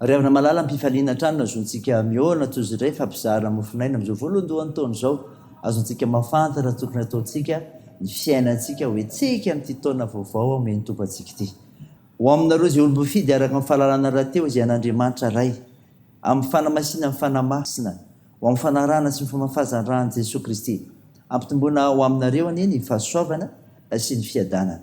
Ry havana malala, ampifaliana hatrany no azontsika mihaona toy izay fa mpizara mofon'aina amin'izao voalohandohan'ny taona izao. Azontsika mahafantatra ny tokony hataontsika, ny fiainantsika ho hetsika amin'ity taona vaovao omen'ny Tompo antsika ity. Ho aminareo izay olom-boafidy araka ny fahalalana rahateo izay an'Andriamanitra Ray, amin'ny fanamasinany ny Fanahy Masina, ho amin'ny fanarahana sy ny famafazan'ny ran'i Jesoa Kristy. Ampitomboina ho aminareo anie ny fahasoavana sy ny fiadanana.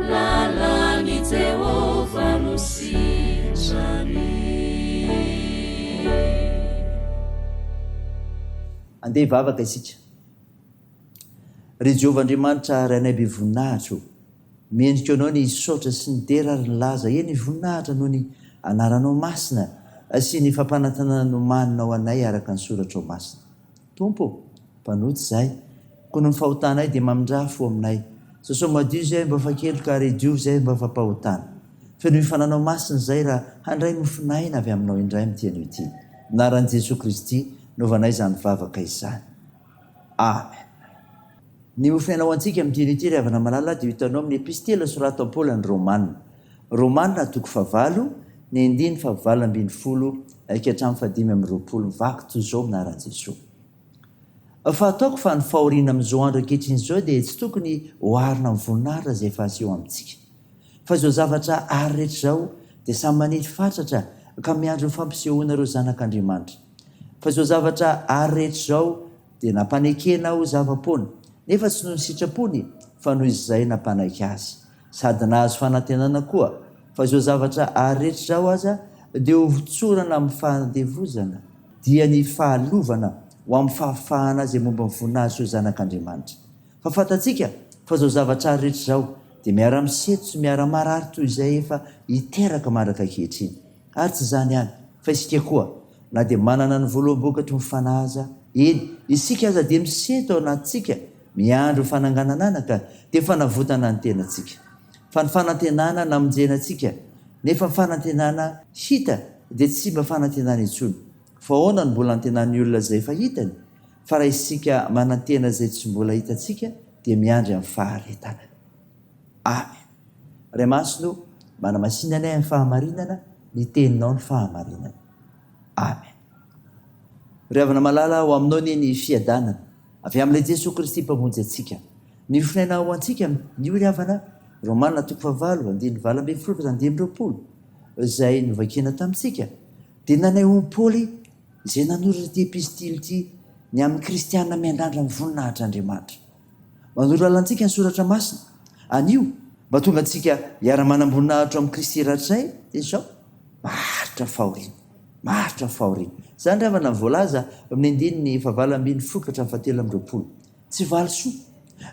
Lalan'i Jehovah no sitrany. Andeha hivavaka isika. Ry Jehovah Andriamanitra Rainay be voninahitra ô, mendrika Anao ny hisaotra sy ny dera ary ny laza, eny, voninahitra noho ny Anaranao masina sy ny fampanantenana nomaninao anay araka ny Soratrao masina. Tompo ô, mpanota izay. Koa noho ny fahotanay dia mamindrà fo aminay. Sosao madio izay mba fa keloka ary diovy izay mba fa pahotana. Feno ny Fananao Masina izay raha handray mofon'aina avy Aminao indray amin'ity anio ity. Anaran'i Jesoa Kristy, novana izany vavaka izany. Amen. Ny ho fiainao antsika amin'ny dinidiry havana malala dia hitanao amin'ny epistila soratan'i Paoly an'ny Romana. Romana, toko fahavalo, ny andininy fahavalo ambin'ny folo ka hatramin'ny fahadimy amby roapolo, vaky toy izao anaran'i Jesoa. Fahataoko fa ny fahoriana amin'izao andro ankehitriny izao dia tsy tokony oharina amin'ny voninahitra izay efa aseho amintsika. Fa izao zavatra àry rehetra izao dia samy maniry fatratra ka miandry ny fampisehoana ireo zanak'Andriamanitra. Fa izao zavatra àry rehetra izao. dia nampanekena ho zava-poana, nefa tsy noho ny sitrapony fa noho izay nampanaiky azy, sady nahazo fanantenana koa fa izao zavatra aretra izao aza dia ho votsorana amin'ny fandevozana, dia ny fahalovana ho amin'ny fahafahana izay momba ny voninahitry ireo zanak'Andriamanitra. Fa fantatsika fa izao zavatra aretra izao dia miara-misento sy miara-marary toy izay efa hiteraka mandraka ankehitriny. Ary tsy izany ihany, fa isika koa, na dia manana ny voloam-bokatry ny Fanahy aza, eny, isika aza dia misento ao anatintsika, miandry ho fananganan'anaka, dia fanavotana ny tenantsika. Fa ny fanantenana namonjena antsika, nefa ny fanantenana hita dia tsy mba fanantenana intsony. Fa ahoana no mbola antenan'ny olona izay efa hitany? Fa raha isika manantena izay tsy mbola hitantsika, dia miandry amin'ny faharetana. Amen. Ray Masina o, manamasina anay amin'ny fahamarinana, ny teninao no fahamarinana. Amen. Ry Havana Malala, ao aminao anie ny fiadanana, avy amin'ilay Jesoa Kristy Mpamonjy antsika. Ny fonenao ho antsika, ny hoy ry Havana, Romana toko fahavalo, andininy valo ambin'ny folo ka hatramin'ny dimy amby roapolo, izay novakina tamintsika, dia nanao i Paoly izay nanoratra ity epistily ity, ny amin'ny kristiana miandrandra ny voninahitr' Andriamanitra. Manoro lalana antsika ny Soratra Masina. Anio, mba tonga antsika hiara-manamboninahitra ao amin'i Kristy Ratsay izao. Maharitra fahoriana. Maharitra fahoriana. Izany ry havana no voalaza amin'ny andininy fahavalo ambin'ny fokatra fahatelo amby roapolo. Tsy valisoa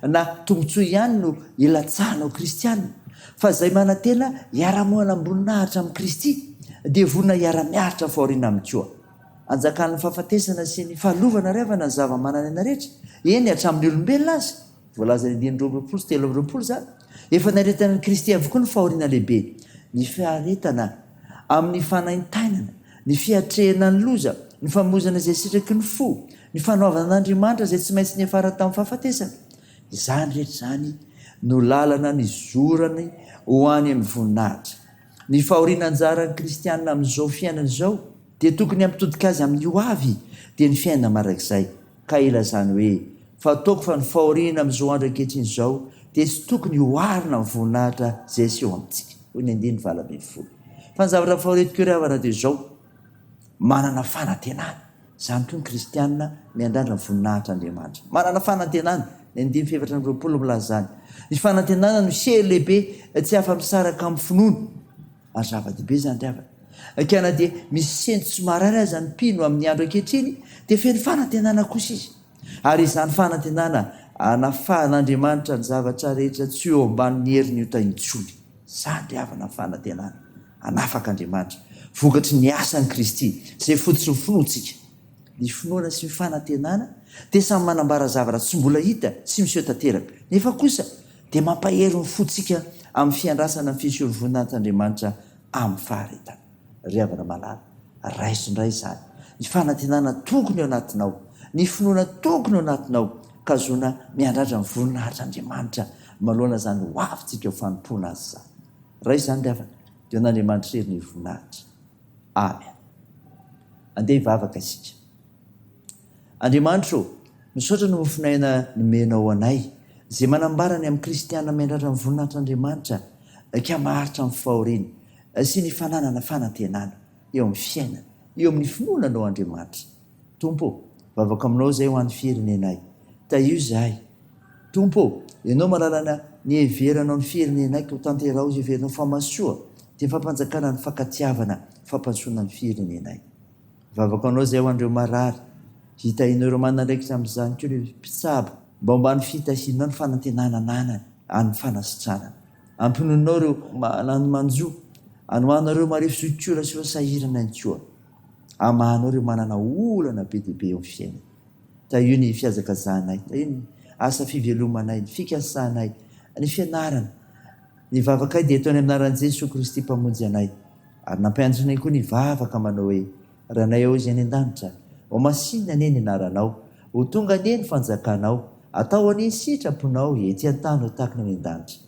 na tombontsoa ihany no ilatsahanao kristiana, fa izay manantena hiara-moanam-boninahitra amin'i Kristy, dia vonona hiara-miaritra fahoriana Aminy koa. Anjakan'ny fahafatesana sy ny fahalovana ary havana ny zava-manana aina rehetra, eny, hatramin'ny olombelona aza, voalazan'ny andininy roa amby roapolo sy telo amby roapolo izany. Efa niaretanan'i Kristy avokoa ny fahoriana lehibe, ny fiaretana amin'ny fanaintainana, ny fiatrehana ny loza, ny famoizana izay sitraky ny fo, ny fanoavana an'Andriamanitra izay tsy maintsy niafara tamin'ny fahafatesana. Izany rehetra izany no lalana nizorany ho any amin'ny voninahitra. Ny fahoriana anjaran'ny kristiana amin'izao fiainana izao dia tokony hampitodika azy amin'ny ho avy, dia ny fiainana mandrakizay. Ka ilazany hoe, Fataoko fa ny fahoriana amin'izao andro ankehitriny izao dia tsy tokony hoharina amin'ny voninahitra izay aseho amintsika. Hoy ny andininy valo ambin'ny folo. Fa ny zavatra fahoriantoka eo ry havana dia izao, manana fanantenana. Izany koa ny kristiana miandrandra ny voninahitr' Andriamanitra. Manana fanantenana, ny andininy fahefatra amby roapolo milaza izany. Ny fanantenana no sery lehibe tsy afa-misaraka amin'ny finoana, ary zava-dehibe izany ry havana. Ka na dia misy sento tsy marary aza ny mpino amin'ny andro ankehitriny, dia feno fanantenana kosa izy. Ary izany fanantenana hanafahan'Andriamanitra ny zavatra rehetra tsy eo ambanin'ny herin'ny ota intsony izany ry havana ny fanantenana hanafaka Andriamanitra vokatry ny asan'i Kristy izay fototr'nny finoantsika. Ny finoana sy ny fanantenana dia samy manambara zavatra tsy mbola hita sy miseho tanteraka nefa kosa dia mampahery ny fontsika amin'ny fiandrasana ny fisorovonan'tAndriamanitra amin'ny faharetana. Ry havana malala, raiso indray izany, ny fanantenana tokony ao anatinao, ny finoana tokony ao anatinao ka zohina miandrandra ny voninahitr'Andriamanitra manoloana izany ho avintsika ho fanompoana Azy izany. Raiso izany ry havana, dia ho an'Andriamanitra irery ny voninahitra. Amen. Andeha hivavaka isika. Andriamanitra ô, misaotra ny mofon'aina nomenao anay, izay manambara ny amin'ny kristiana miandrandra ny voninahitr'Andriamanitra ka maharitra amin'ny fahoriany. sy ny fananana fanantenana eo amin'ny fiainana, eo amin'ny finoana Anao Andriamanitra. Tompo ô, vavaka Aminao izay ho an'ny firenenay. Tahio izahay. Tompo ô, Ianao malalana ny heveranao ny firenenay koa tanteraho izay heverinao fa masoa, dia fampanjakana ny fankatiavana, fampandrosoana ny firenenay. Vavaka Anao izay ho an'ireo marary, hitahianao ireo manandraikitra amin'izany koa ireo mpitsabo, mba homba ny fitahianao ny fanantenana ananany, an'ny fanasitranana. Ampinoninao ireo manano manjo. Anohanao ireo marefo zokiolona sy ireo sahirana ihany koa. Amahanao ireo manana olana be dia be eo amin'ny fiainana. Tahio ny fihazakazahanay. Tahio ny asa fivelomanay, ny fikasanay, ny fianarana. Ny vavakay dia ataonay amin'ny anaran'i Jesoa Kristy Mpamonjy anay. Ary nampianatrinay koa ny hivavaka manao hoe. Ranay ao izay any an-danitra. Ho masinina anie ny anaranao. Ho tonga anie ny fanjakanao. Atao anie ny sitraponao ety an-tany ho tahaka ny any an-danitra.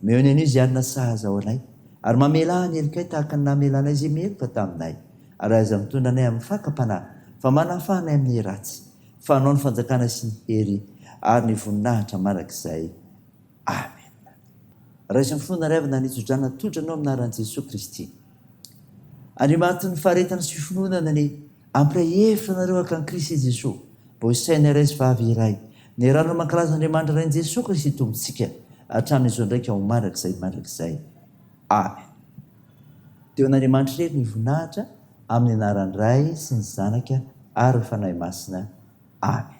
Omeo ny anio izay hanina sahaza ho anay. Ary mamelà ny helokay tahaka ny namelanay izay meloka taminay. Ary aza mitondra anay amin'ny fakam-panahy, fa manafaha anay amin'ny ratsy. Fa anao ny fanjakana sy ny hery ary ny voninahitra mandrakizay. Amen. Raiso ny fo na raivo na ny tso-drano atolotra anao amin'ny anaran'i Jesoa Kristy. Andriamanitin'ny faharetana sy finoana ny ampiray hevitra anareo haka an'i Kristy Jesoa mba ho saina iray sy vava iray. Ny rano no mankalaza Andriamanitra Rain'i Jesoa Kristy Tompontsika hatramin'izao ndraika ho mandrakizay mandrakizay. Amen. Dia ho an'Andriamanitra irery ny voninahitra amin'ny anaran'ny Ray sy ny Zanaka ary ny Fanahy Masina. Amen.